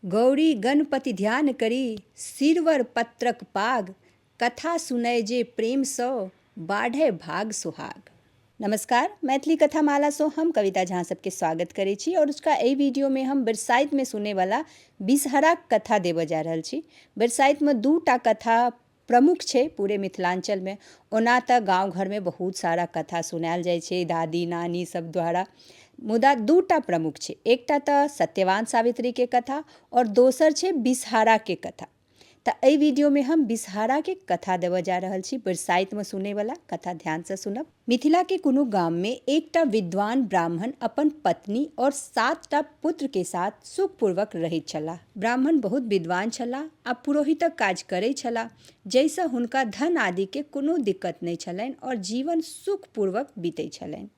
गौरी गणपति ध्यान करि सिरवर पत्रक पाग, कथा सुनय जे प्रेम सँ, बाढ़य भाग सोहाग। नमस्कार, मैथिली कथा माला सँ हम कविता झा अहाँ सबके स्वागत करै छी और अजुका एहि वीडियो मे हम बरसाइत मे सुनै वाला बिसहराक कथा देबय जा रहल छी। बरसाइत मे दू टा कथा प्रमुख छै पूरे मिथिलाञ्चलमे ओना तऽ गाँव घरमे बहुत सारा कथा सुनायल जाइ छै दादी नानी सब द्वारा मुदा दूटा प्रमुख छै एकटा तऽ सत्यवान सावित्रीके कथा आओर दोसर छै विषहाराके कथा तऽ अइ वीडियोमे हम विषहाराके कथा देबऽ जा रहल छी बरसाइतमे सुनैवला कथा ध्यानसँ सुनब मिथिला के कोनो गाम में एक टा विद्वान ब्राह्मण अपन पत्नी और सात टा पुत्र के साथ सुख पूर्वक रहैत छलाह। ब्राह्मण बहुत विद्वान छलाह आ पुरोहितक काज करैत छलाह जइ सँ हुनका धन आदि के कोनो दिक्कत नहि छलनि और जीवन सुख पूर्वक बीतैत छलनि।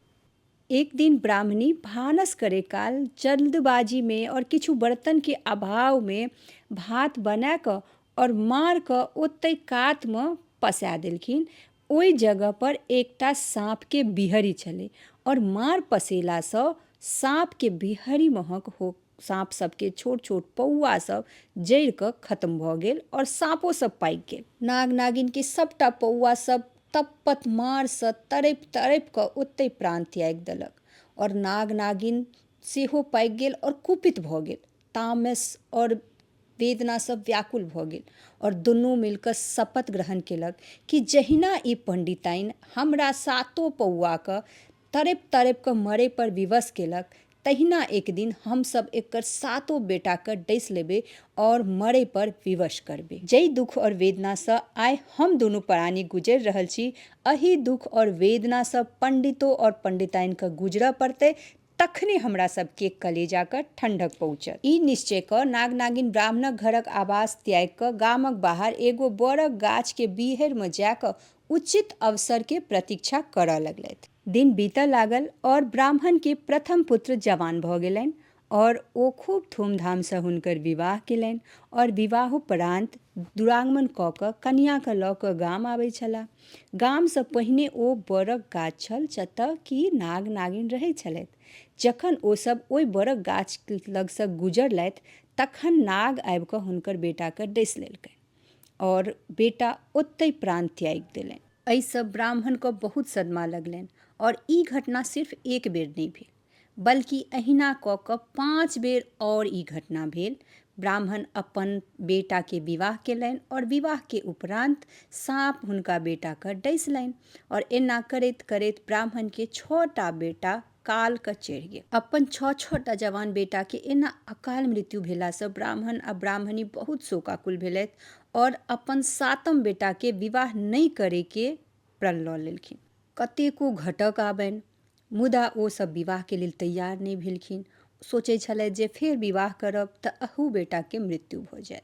एक दिन ब्राह्मणी भानस करै काल जल्दबाजी में और किछु बर्तन के अभाव में भात बना क और मार क ओतै कात में पसा देलखिन। ओइ जगह पर एकटा साँप के बिहरि छलै और मार पसेला स साँप के बिहरि महक हो साँप सब के छोट छोट पौआ सब जरि क खत्म भ गेल और साँपो सब पाकि गेल। नाग नागिन के सबटा पौआ सब तपत मार स तड़पि तड़पि क ओतै प्राण त्यागि देलक और नाग नागिन सेहो पाकि गेल और कुपित भ गेल। तामस और वेदना सब व्याकुल भऽ गेल और दुनू मिलकऽ शपथ ग्रहण केलक कि जहिना ई पंडिताइन हमरा सातो पौआ कऽ तड़पि तड़पि कऽ मरै पर विवश केलक तहिना एक दिन हम सब एकर सातो बेटा कऽ डसि लेबै और मरै पर विवश करबै। जइ दुख और वेदना सँ आइ हम दुनू परानी गुजरि रहल छी अहि दुख और वेदना सँ पंडितो और पंडिताइन कऽ गुजरऽ पड़तै तखने हमरा सभ केक कलेजा कऽ ठंढक पहुँचत। ई निश्चय कऽ नाग-नागिन ब्राह्मणक घरक आवास त्यागि कऽ गामक बाहर एगो बड़क गाछ के बीहैर मऽ जा कऽ उचित अवसर के प्रतीक्षा करऽ लगलैथ। दिन बीतऽ लागल और ब्राह्मण के प्रथम पुत्र जवान भऽ गेलैन और ओ खूब धूमधाम सऽ हुनकर विवाह केलैन और विवाहोपरान्त दुरागमन कऽ कऽ कनियाँ कऽ लऽ कऽ गाम आबै छलाह। गामसँ पहिने ओ बड़क गाछ छल जतय कि नाग नागिन रहै छलथि जखन ओ सब ओहि बड़क गाछ लगसँ गुजरलथि तखन नाग आबि कऽ हुनकर बेटाकेँ डसि लेलकनि आओर बेटा ओतहि प्राण त्यागि देलनि एहिसँ ब्राह्मणकेँ बहुत सदमा लगलनि आओर ई घटना सिर्फ एक बेर नहि भेल बल्कि अहिना कऽ कऽ पाँच बेर और ई घटना भेल। ब्राह्मण अपन बेटा के विवाह केलनि और विवाह के उपरान्त साँप हुनका बेटा कऽ डैसलनि और एना करैत करैत ब्राह्मण के छह टा बेटा काल कऽ चढ़ि गेल। अपन छह छह टा जवान बेटा के एना अकाल मृत्यु भेला सँ ब्राह्मण आ ब्राह्मणी बहुत शोकाकुल भेलथि और अपन सातम बेटा के विवाह नहि करय के प्रण लऽ लेलखिन कतेको घटक आबनि मुदा ओ सब विवाह के लेल तैयार नहि भेलखिन सोचै छलथि जे फेर विवाह करब तऽ अहू बेटा के मृत्यु भऽ जाय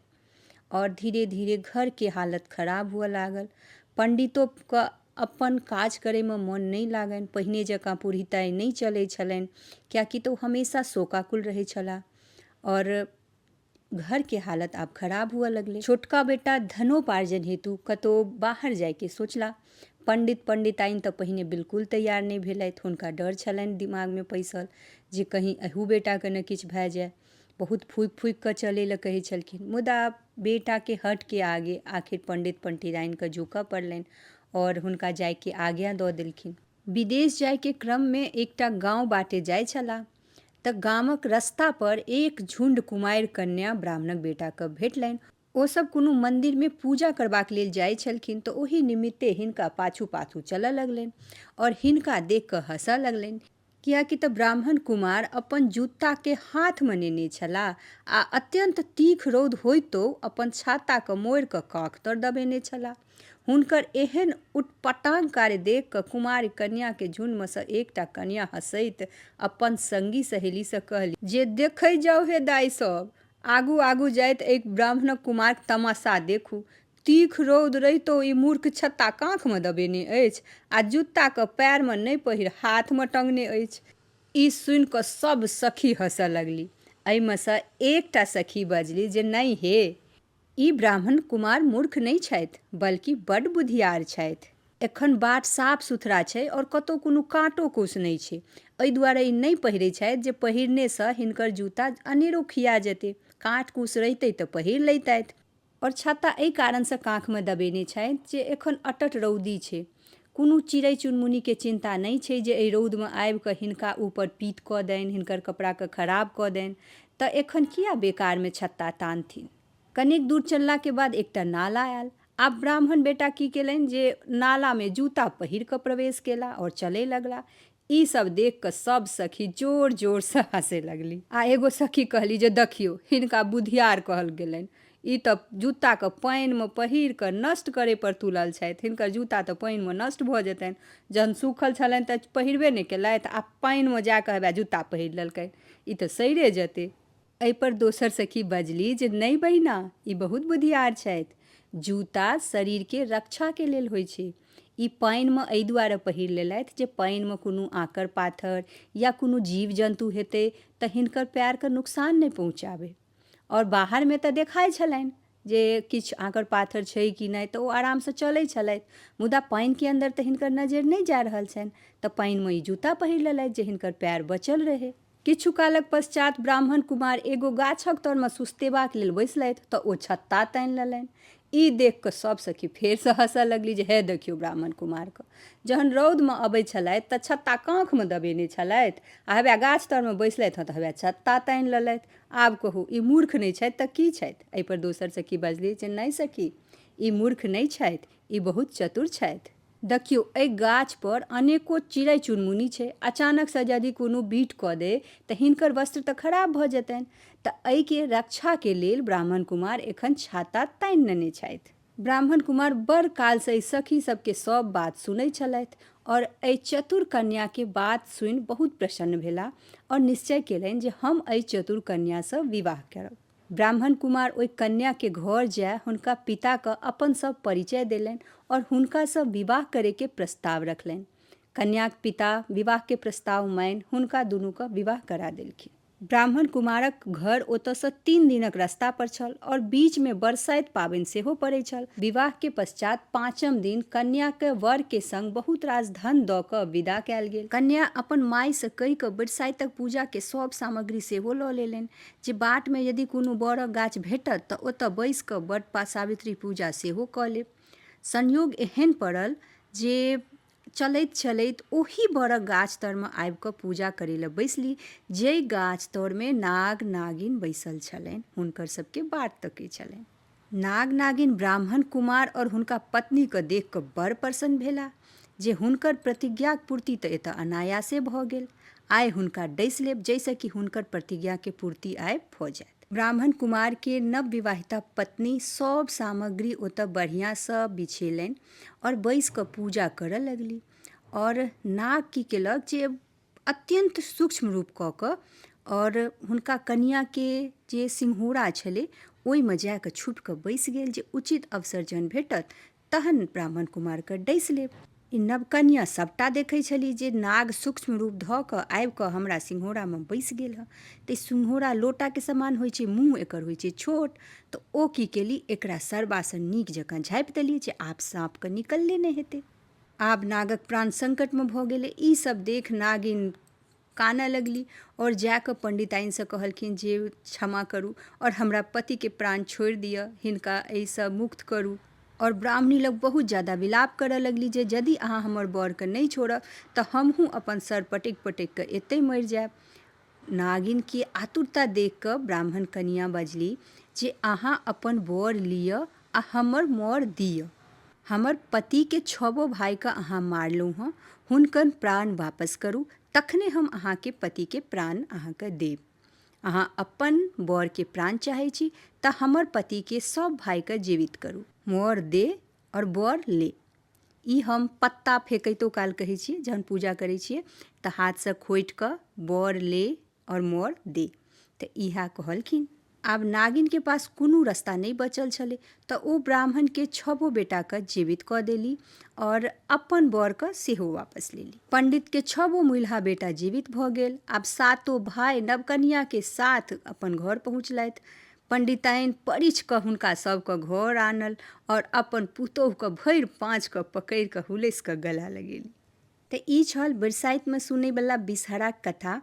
और धीरे धीरे घर के हालत खराब हुअ लागल पंडितो के अपन काज करे में मन नहि लागनि पहिने जकाँ पुरहिताई नहि चलै छलनि कियाकि तऽ ओ हमेशा शोकाकुल रहै छलाह और घर के हालत आब खराब हुअ लगले छोटका बेटा धनोपार्जन हेतु कतो बाहर जाय के सोचला पंडित पंडिताइन त पहिने बिल्कुल तैयार नहि भेलथि हुनका डर छलनि दिमाग मे पैसल जे कहीं अहू बेटा के ने किछु भए जाय बहुत फूकि फूकि क चले ल कहै छलखिन मुदा बेटा के हट के आगे आखिर पंडित पंडिताइन के झुकऽ पड़लनि और हुनका जाय के आज्ञा द देलखिन विदेश जाय के क्रम मे एकटा गाँव बाटे जाय छलाह तँ गामक रस्ता पर एक झुण्ड कुमारि कन्या ब्राह्मणक बेटा कऽ भेटलनि। ओ सभ कोनो मंदिर मे पूजा करबाक लेल जाइत छलखिन तँ ओहि निमित्ते हिनका पाछू-पाछू चलऽ लगलनि और हिनका देख कऽ हँसऽ लगलनि। किएकि तँ ब्राह्मण कुमार अपन जूता केँ हाथ मे नेने छलाह आ अत्यंत तीख रौद होइतो अपन छाता कऽ मोड़ि कऽ काँख तर दबेने छलाह। हुनकर एहेन उटपटांग कार्य देख कऽ कुमारि कन्या के झुण्डमे सँ एकटा कन्या हँसैत अपन संगी सहेली सँ कहली, जे देखै जाउ हे दाइ सभ, आगू-आगू जाइत ऐक ब्राह्मणक कुमारिक तमाशा देखू। तीख रौद रहितो ई मूर्ख छत्ता काँखमे दबेने अछि आ जुत्ता कऽ पैरमे नै पहिर हाथमे टंगने अछि। ई सुनि कऽ सभ सखी हँसऽ लगली। ऐमे सँ एकटा सखी बजली जे नै हे! ई ब्राह्मण कुमार मूर्ख नहि छथि बल्कि बड्ड बुधियार छथि। एखन बाट साफ-सुथरा छै और कतौ कोनो काँटो-कूस नहि छै। एहि दुआरे ई नहि पहिरै छथि जे पहिरने सँ हिनकर जूता अनेरो खिया जेतै। काँट-कूस रहितै तँ पहिर लैतथि। और छत्ता एहि कारण सँ काँखमे दबेने छथि जे एखन अटट रौदी छै। कोनो चिड़ै-चुनमुनीकेँ चिन्ता नहि छै जे एहि रौदमे आबि कऽ हिनका ऊपर पीत कऽ दैन, हिनकर कपड़ाकेँ खराब कऽ दैन, तँ एखन किए बेकारमे छत्ता तानथिन। कनेक दूर चललाक बाद एकटा नाला आएल। आब ब्राह्मण बेटा की केलनि जे नालामे जूता पहिर कऽ प्रवेश केलाह आओर चलए लगलाह। ई सब देख कऽ सब सखी जोर जोर सँ हँसे लगली आ एगो सखी कहली जे दखियो हिनका बुधियार कहल गेलनि ई तऽ जूता के पानि मे पहिर कऽ नष्ट करे पर तुलल छथि हिनकर जूता तऽ पानि मे नष्ट भऽ जेतनि जहन सूखल छलनि तऽ पहिरबे नहि केलथि आ पानि मे जा कऽ हेबे जूता पहिर लेलकनि ई तऽ सड़े जेतै एहिपर दोसर सखी बजली जे नहि बहिना ई बहुत बुधियार छथि जूता शरीरके रक्षाके लेल होइ छै ई पानिमे एहि दुआरे पहिर लेलथि जे पानिमे कोनो आँकर पाथर या कोनो जीव जन्तु हेतै तऽ हिनकर पएरके नुकसान नहि पहुँचाबै आओर बाहरमे तऽ देखाइ छलनि जे किछु आँकर पाथर छै कि नहि तऽ ओ आरामसँ चलै छलथि मुदा पानिके अन्दर तऽ हिनकर नजरि नहि जा रहल छनि तऽ पानिमे ई जूता पहिर लेलथि जे हिनकर पएर बचल रहै किछु कालक पश्चात ब्राह्मण कुमार एगो गाछक तरमे सुस्तेबाक लेल बैसलथि तँ ओ छत्ता तानि लेलनि। ई देख कऽ सभ सखी फेरसँ हँसए लगली जे हे देखियौ ब्राह्मण कुमारकेँ। जहन रौदमे अबैत छलथि तँ छत्ता काँखमे दबेने छलथि आ हवए गाछ तरमे बैसलथि हँ तँ हवए छत्ता तानि लेलथि। आब कहू ई मूर्ख नहि छथि तँ की छथि? एहिपर दोसर सखी बजली जे नहि सखी, ई मूर्ख नहि छथि। ई बहुत चतुर छथि। देखियौ, एहि गाछ पर अनेको चिड़ै-चुनमुनी छै। अचानक सँ यदि कोनो बीट कऽ देय तँ हिनकर वस्त्र तँ खराब भऽ जेतनि। तँ एहि केँ रक्षा केँ लेल ब्राह्मण कुमार एखन छाता तानि नेने छथि। ब्राह्मण कुमार बड़ काल सँ एहि सखी सभ केँ सभ बात सुनै छलथि और एहि चतुर कन्या केँ बात सुनि बहुत प्रसन्न भेलाह और निश्चय केलनि जे हम एहि चतुर कन्या सँ विवाह करब। ब्राह्मण कुमार ओहि कन्या के घर जाय हुनका पिता क अपन सब परिचय देलनि और हुनका स विवाह करे के प्रस्ताव रखलनि। कन्याक पिता विवाह के प्रस्ताव मानि हुनका दुनू क विवाह करा देलखिन। ब्राह्मण कुमारक घर ओतय स तीन दिनक रस्ता पर छल और बीच मे बरसाइत पाबनि सेहो पड़ै छल। विवाह के पश्चात् पाँचम दिन कन्या कय वर के संग बहुत रास धन द क विदा कयल गेल। कन्या अपन माय स कहि क बरसाइतक पूजा के सब सामग्री सेहो ल लेलनि। जे बाट मे यदि कोनो बरक गाछ भेटत त ओतय बैस क बड पा सावित्री पूजा सेहो क लेब। संयोग एहेन पड़ल जे चलैत चलैत ओही बरक गाछ तर मे आबि क पूजा करय ल बैसली जइ गाछ तर मे नाग नागिन बैसल छलनि हुनकर सभ के बाट तकय छलनि। नाग नागिन ब्राह्मण कुमार और हुनका पत्नी के देख के बड़ प्रसन्न भेला जे हुनकर प्रतिज्ञाक पूर्ति तऽ एतऽ अनायासे भऽ गेल। आइ हुनका डसि लेब जइसँ कि हुनकर प्रतिज्ञा के पूर्ति आइ भऽ जाएत। ब्राह्मण कुमार के नवविवाहिता पत्नी सब सामग्री ओतऽ बढ़िया सँ बिछेलनि और बैसि कऽ पूजा करऽ लगली और नाग की केलक जे अत्यन्त सूक्ष्म रूप कऽ कऽ आओर हुनका कनियाँके जे सिंहूरा छलै ओहिमे जा कऽ छुपि कऽ बैसि गेल जे उचित अवसर जहन भेटत तहन ब्राह्मण कुमारके डसि लेब ई नवकनियाँ सभटा देखै छली जे नाग सूक्ष्म रूप धऽ कऽ आबि कऽ हमरा सिंहूरामे बैसि गेल हँ तऽ ई सिंहूरा लोटाके समान होइ छै मुँह एकर होइ छै छोट तऽ ओ की केली एकरा सरबासँ नीक जकाँ झाँपि देली जे आब साँपके निकलले नहि हेतै आब नागक प्राण संकटमे भऽ गेलै ई सब देख नागिन कानऽ लगली आओर जा कऽ पंडिताइनसँ कहलखिन जे क्षमा करू आओर हमरा पतिके प्राण छोड़ि दिअ हिनका एहिसँ मुक्त करू आओर ब्राह्मणी लग बहुत ज्यादा विलाप करऽ लगली जे यदि अहाँ हमर बरके नहि छोड़ब तऽ हमहूँ अपन सर पटकि पटकि कऽ एतहि मरि जायब नागिन के आतुरता देख कऽ ब्राह्मण कनियाँ बजली जे अहाँ अपन वर लिअ आ हमर मौर दिअ। हमर पति के छवो भाई कऽ अहाँ मारलहुँ हँ, हुनकर प्राण वापस करू, तखने हम अहाँ के पति के प्राण अहाँ कऽ देब। अहाँ अपन वर के प्राण चाहै छी तऽ हमर पति के सब भाई कऽ जीवित करू। मौर दे और वर ले। ई हम पत्ता फेकैतो काल कहै छियै जहन पूजा करै छियै तऽ हाथसँ खोटि कऽ बर ले आओर मर दे तऽ इएह कहलखिन आब नागिनके पास कोनो रस्ता नहि बचल छलै तऽ ओ ब्राह्मणके छबो बेटाके जीवित कऽ देली आओर अपन बरके सेहो वापस लेली पंडितके छबो मुल्हा बेटा जीवित भऽ गेल आब सातो भाय नवकनियाके साथ अपन घर पहुँचलथि पण्डिताइन परिछ कऽ हुनका सभके घर आनल आओर अपन पुतोहुके भरि पाँचके पकड़ि कऽ हुलसि कऽ गला लगेली तऽ ई छल बरसाइतमे सुनैवला बिषहरा कथा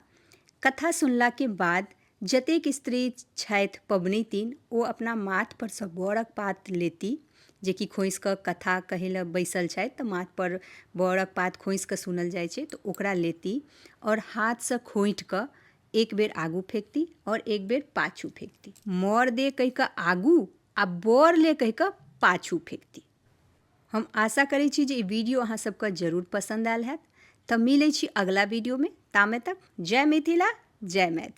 कथा सुनलाके बाद जतेक स्त्री छथि पबनैतिन ओ अपना माथपरसँ बरक पात लेती जेकि खोसि कऽ कथा कहै लए बैसल छथि तऽ माथपर बरक पात खोसि कऽ सुनल जाइ छै तऽ ओकरा लेती आओर हाथसँ खोँटि कऽ एक बेर आगू फेंकती और एक बेर पाछू फेंकती मौर दे कह के आगू आ बोर ले कह के पाछू फेंकती हम आशा करै छी जे ई वीडियो अहाँ सबके जरूर पसंद आयल हैत तऽ मिलै छी अगला वीडियोमे तामे तक जय मिथिला जय मैथिल